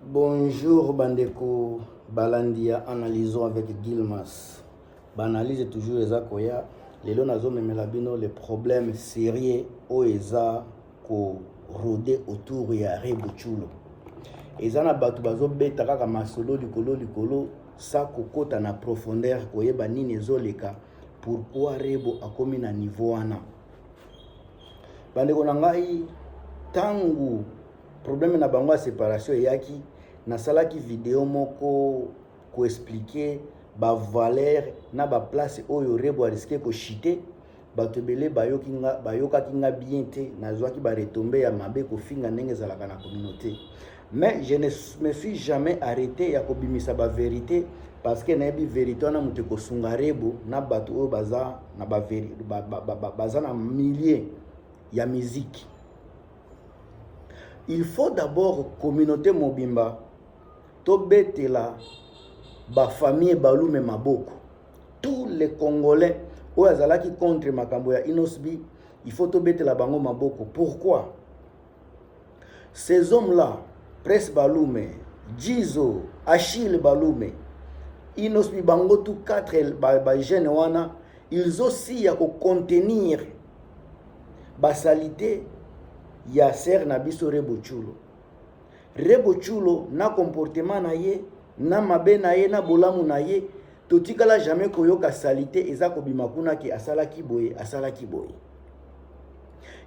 Bonjour bandeko balandi ya analysons avec Gilmas. Banalyse toujours eza koya lelo nazomemela bino le problème sérieux oyo eza ko rode autour ya Rebuchulo. Eza na bato bazobeta kaka masolo likolo likolo sa kokota na profondeur koyeba nini ezoleka pourquoi Rebo akomi na niveau wana. bandeko na ngai tangu problème na bango ya séparation eyaki nasalaki video moko koexplike bavaleur na baplace oyo rebo ariske koshite bato ebele bayoki nga bayokaki nga bien te nazwaki baretombe ya mabe kofinga ndenge ezalaka na communauté mais je ne me suis jamais arrêté ya kobimisa ba verité parce que nayebi verité wana moto ekosunga rebo na bato oyo baza na ba, ba, ba, ba, ba, baza na milieu ya miziki il faut d'abord communauté mobimba tobetela bafamille balume maboko tous les congolais oyo azalaki contre makambo ya inosbi il faut tobetela bango maboko pourquoi Ces hommes là, Pres Balume, Jizo, Achille Balume, Inosbi bango tout quatre ba, ba jeunes wana, ils aussi ya ko contenir ba salite ya sœur na biso Rebo Chulo. Rebo Chulo na comportement na ye, na mabe na ye, na bolamu na ye Totikala jamais koyoka salite eza kobima kuna ke asalaki boye asalaki boye.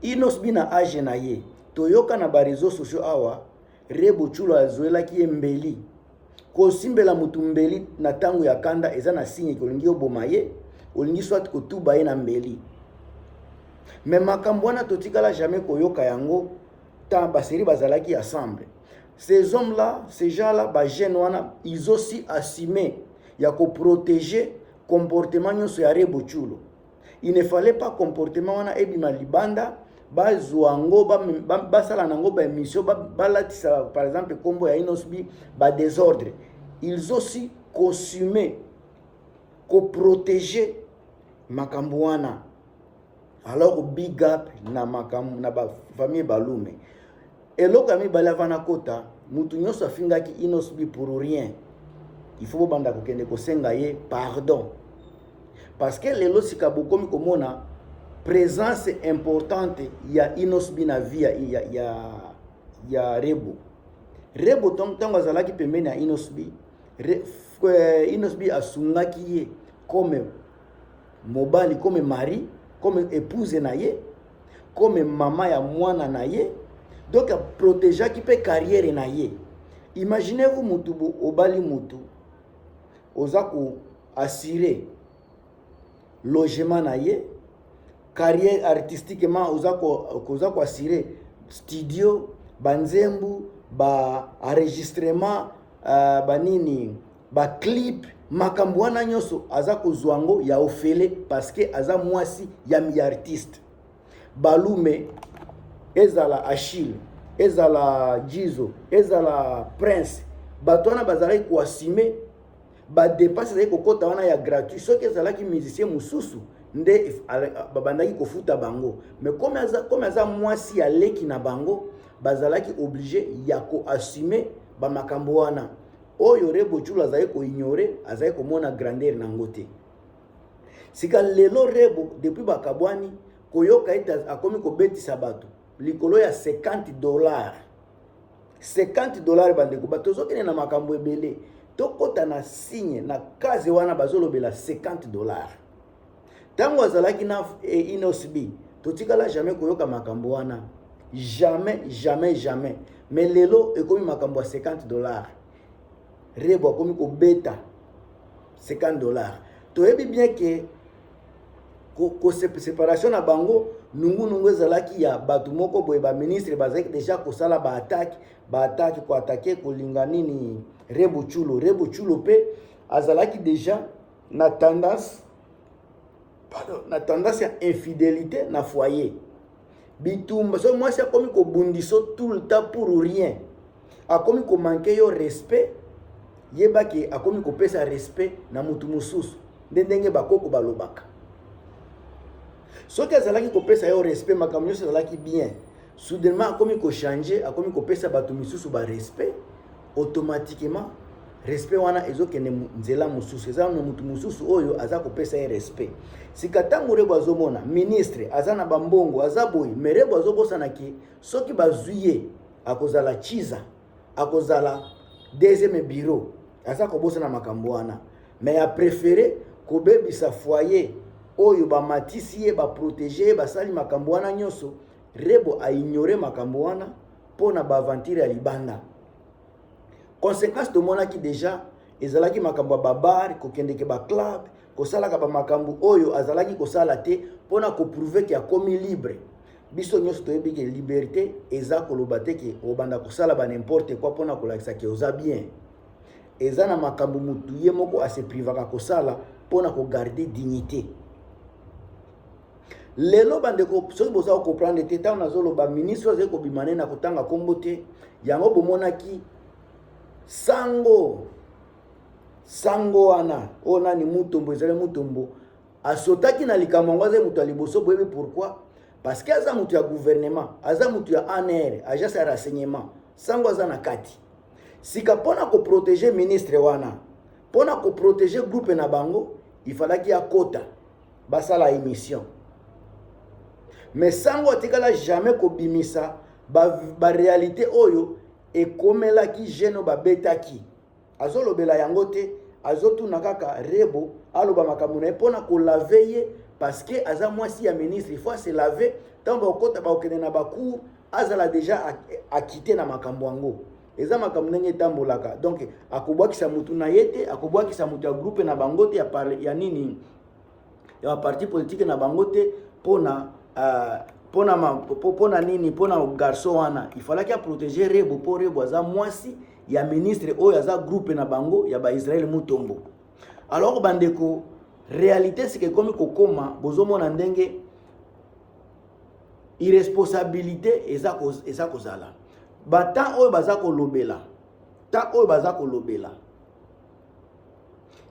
Inos bi na age na ye toyoka na ba réseaux sociaux awa Rebo Chulo azuelaki ye mbeli. Kosimbela motu mbeli na ntango ya kanda eza na signe ke olingi oboma ye, olingi soit kotuba ye na mbeli. Me makambo wana totikala jamais koyoka yango ta baseri bazalaki ensemble. Ces hommes là, ces gens là, ba jeunes wana, ils aussi assumé ya ko protéger comportement nyonso ya Rebo Chulo. Il ne fallait pas comportement wana ebima libanda bazwa yango basala na yango baémission balatisa par exemple nkombo ya inosbi badésordre ils aussi consume koprotege makambo wana alors big up na makambo na ba famille balume eloko ya mibale ava na kota motu nyonso afingaki inosbi pour rien il faut bobanda kokende kosenga ye pardon parce que lelo sika bokomi komona présence importante ya inosbi na vie ya, ya, ya, ya rebo rebo ntango azalaki pembeni ya inosbi re, eh, inosbi asungaki ye comme mobali comme mari comme épouse na ye comme mama ya mwana na ye donc aprotegeaki mpe carrière na ye imaginez vous mutu obali mutu oza ko assurer logement na ye carrière artistiquement oza ko oza ko assurer studio banzembu ba enregistrement uh, banini ba clip makambo wana nyonso aza kozwa yango ya ofele parceke aza mwasi ya miartiste balume ezala achille ezala jizo ezala prince bato wana bazalaki koasime badepense ezalaki kokɔta wana ya gratuit soki ezalaki musicien mosusu nde babandaki kofuta bango mais comme aza, comme aza mwasi ya leki na bango bazalaki oblige ya koasime bamakambo wana oyo rebo julu azali koignore azali komona grandeur na yango te sika lelo rebo depuis bakabwani koyoka ete akomi kobetisa bato likolo ya 50 dollars 50 dollars bandeko bato tozokende na makambo ebele tokɔta na signe na kaze wana bazolobela 50 dollars Tango azalaki na eh, Inosb, totikala jamais koyoka makambo wana. Jamais, jamais, jamais. Mais lelo ekomi makambo ya 50 dollars. Rebo akomi kobeta 50 dollars. Toyebi bien que ko, ko séparation na bango nungunungu ezalaki ya bato moko boye baministre bazalaki deja kosala baatake baatake koatake kolinga nini rebuchulo rebuchulo mpe azalaki deja na tendance pardon na tendance ya infidélité na foyer bitumba soki mwasi akomi kobundiso tout le temps pour rien akomi komanke yo respect yeba ke akomi kopesa respect na motu mosusu nde ndenge bakoko balobaka soki azalaki kopesa yo respect makambo nyonso ezalaki bien soudainement akomi kochange akomi kopesa bato misusu barespect automatiquement respect wana ezokende nzela mosusu eza na motu mosusu oyo aza kopesa ye respect sika ntango rebo azomona ministre aza na bambongo aza boye me rebo azobosana ke soki bazwi ye akozala chiza akozala deuxième bureau aza kobosana makambo wana me ya préféré kobebisa foyer oyo bamatisi ye baprotege ye basali makambo wana nyonso rebo aignore makambo wana mpo na baaventure ya libanda conséquence tomonaki déjà ezalaki makambo ya babare kokendeke baclub kosalaka bamakambo oyo azalaki kosala te mpo na koprouve ke akomi libre biso nyonso toyebi ke liberté eza koloba te ke obanda kosala banimporte kua mpo na kolakisa ke oza bien eza na makambo motu ye moko aseprivaka kosala mpo na kogarde dignité lelo bandeko soki boza kokomprendre te ntango nazoloba ministre azali kobima ne na kotanga nkombo te yango bomonaki sango sango wana oyo nani mutombo ezali mutombo asotaki na likambo yango azali moto ya liboso boyebi pourquoi parce que aza moto ya gouvernement aza moto ya anr agence ya renseignement sango aza na kati sika mpo na koprotege ministre wana mpo na koprotege groupe na bango ifalaki akota basala émission mais sango atikala jamais kobimisa baréalité ba, ba oyo ekomelaki jeune babetaki azolobela yango te azotuna kaka rebo aloba makambo na ye mpo na kolave ye parce que aza mwasi ya ministre il faut ase lave ntango bakokota bakokende na bacour azala deja akite na makambo yango eza makambo ndenge etambolaka donc akobwakisa motu na ye te akobwakisa motu ya groupe na bango te ya, ya nini ya ba parti politique na bango te pona euh, pona ma, pona nini pona garçon wana il fallait a protéger Rebo po Rebo aza mwasi ya ministre oyo aza groupe na bango ya ba Israël Mutombo alors bandeko réalité sike ekomi kokoma bozomona ndenge irresponsabilité eza eza kozala batemp oyo baza kolobela temps oyo baza kolobela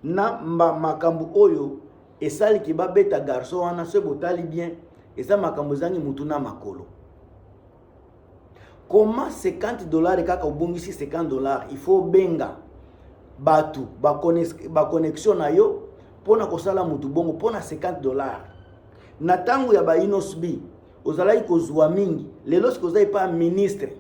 na makambo oyo esaliki babeta garçon wana soki botali bien eza makambo ezangi motu na makolo koma 50 dollars kaka obongisi 50 dollars il faut obenga bato baconnexion na yo mpo na kosala motu bongo mpo na 50 dollars na ntango ya bainosbi ozalaki kozwa mingi lelo sikoza epa ministre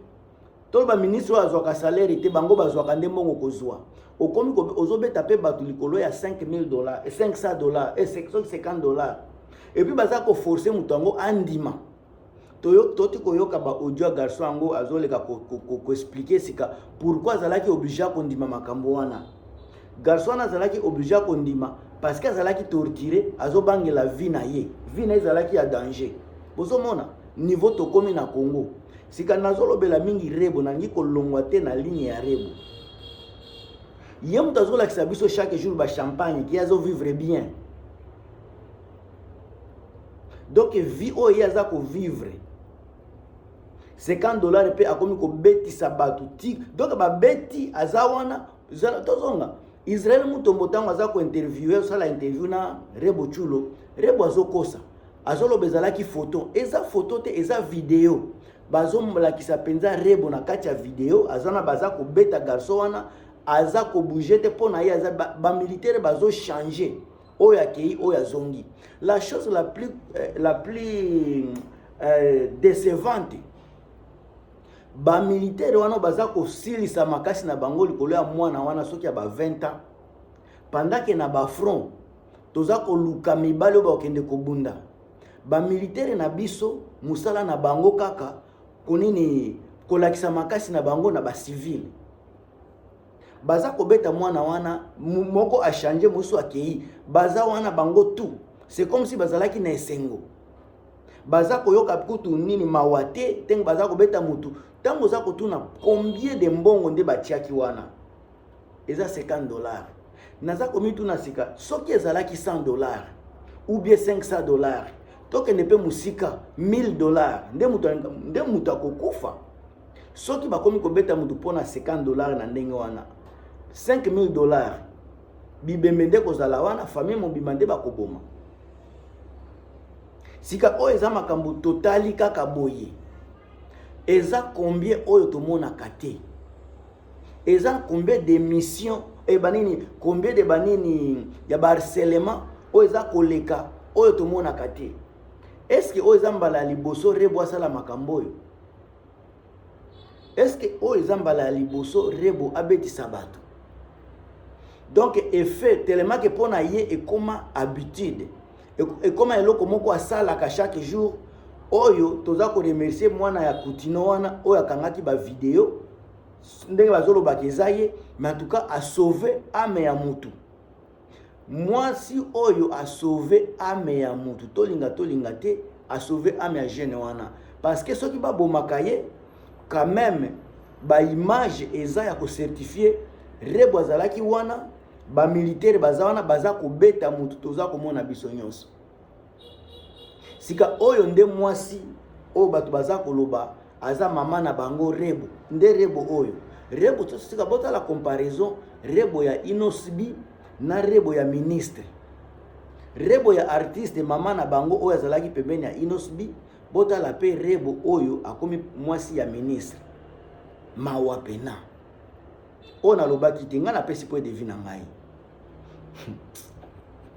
to ba ministre oyo azwaka salaire te bango bazwaka nde mbongo kozwa okomi ozobeta mpe bato likolo ya 5000 dollars 500 dollars 50 dollars epuis baza koforce moto yango andima toti koyoka baaudio ya garçon yango azoleka koexplike sika pourkui azalaki oblige kondima makambo wana garçon wana azalaki oblige kondima parce que azalaki torture azobangela vie na ye vie na ye ezalaki ya danger bozomona niveau tokomi na congo sika nazolobela mingi rebo nangi kolongwa te na ligne ya rebo ye moto azolakisa biso chaque jour ba champagne ki azovivre bien donc vie oyo ye aza kovivre 50 dollars mpe akomi kobetisa bato ti donc babeti aza wana tozonga israel mutombo ntango aza kointerviewe osala interview na rebo chulo rebo azokosa azoloba ezalaki photo eza photo te eza video bazomolakisa mpenza rebo na kati ya video aza na baza kobeta garso wana aza kobouge te mpo na ye aza bamilitere ba bazochange oyo akei oyo azongi la chose la plus, euh, la plus euh, décevante bamilitere wana baza kosilisa makasi na bango likolo ya mwana wana soki ya ba 20 ans pendant ke na bafront toza koluka mibali oyo bakokende kobunda bamilitere na biso mosala na bango kaka konini kolakisa makasi na bango na bacivile baza kobeta mwana wana moko achange mosusu akei baza wana bango tout c'est comme si bazalaki na esengo baza koyoka kutu nini mawa te ntango baza kobeta motu ntango oza kotuna combien de mbongo nde batiaki wana eza 50 dollars naza komituna sika soki ezalaki 100 dollars ou bien 500 dollars tokende mpe mosika 1000 dollars nde moto akokufa soki bakomi kobeta moto mpo na 50 dollars na ndenge wana 5000 dollars bibembe nde kozala wana famille mobima nde bakoboma sika oyo eza makambo totali kaka boye eza combien oyo tomonaka te eza combien de mission e eh, banini combien de banini ya baharcelement oyo eza koleka oyo tomonaka te eske oyo eza mbala ya liboso rebo asala makambo oyo eske oyo eza mbala ya liboso rebo abetisa bato donc effet telemake mpo na ye ekoma habitude ekoma eloko moko asalaka chaque jour oyo toza koremercie mwana ya kutino wana oyo akangaki bavideo ndenge bazolobaka eza ye mais en tout cas asauve ame ya mutu mwasi oyo asauve ame ya mutu tolinga tolinga te asauve ame ya jeune wana parce que soki babomaka ye quand même baimage eza ya kocertifie rebo azalaki wana bamilitere baza wana baza kobeta motu toza komona biso nyonso sika oyo nde mwasi oyo bato baza koloba aza mama na bango rebo nde rebo oyo rebo tosika botala comparaison rebo ya inosbi na rebo ya ministre rebo ya artiste mama na bango oyo azalaki pembeni ya inosbi botala mpe rebo oyo akomi mwasi ya ministre mawa pena oyo nalobaki te ngai napesi point de vue na ngai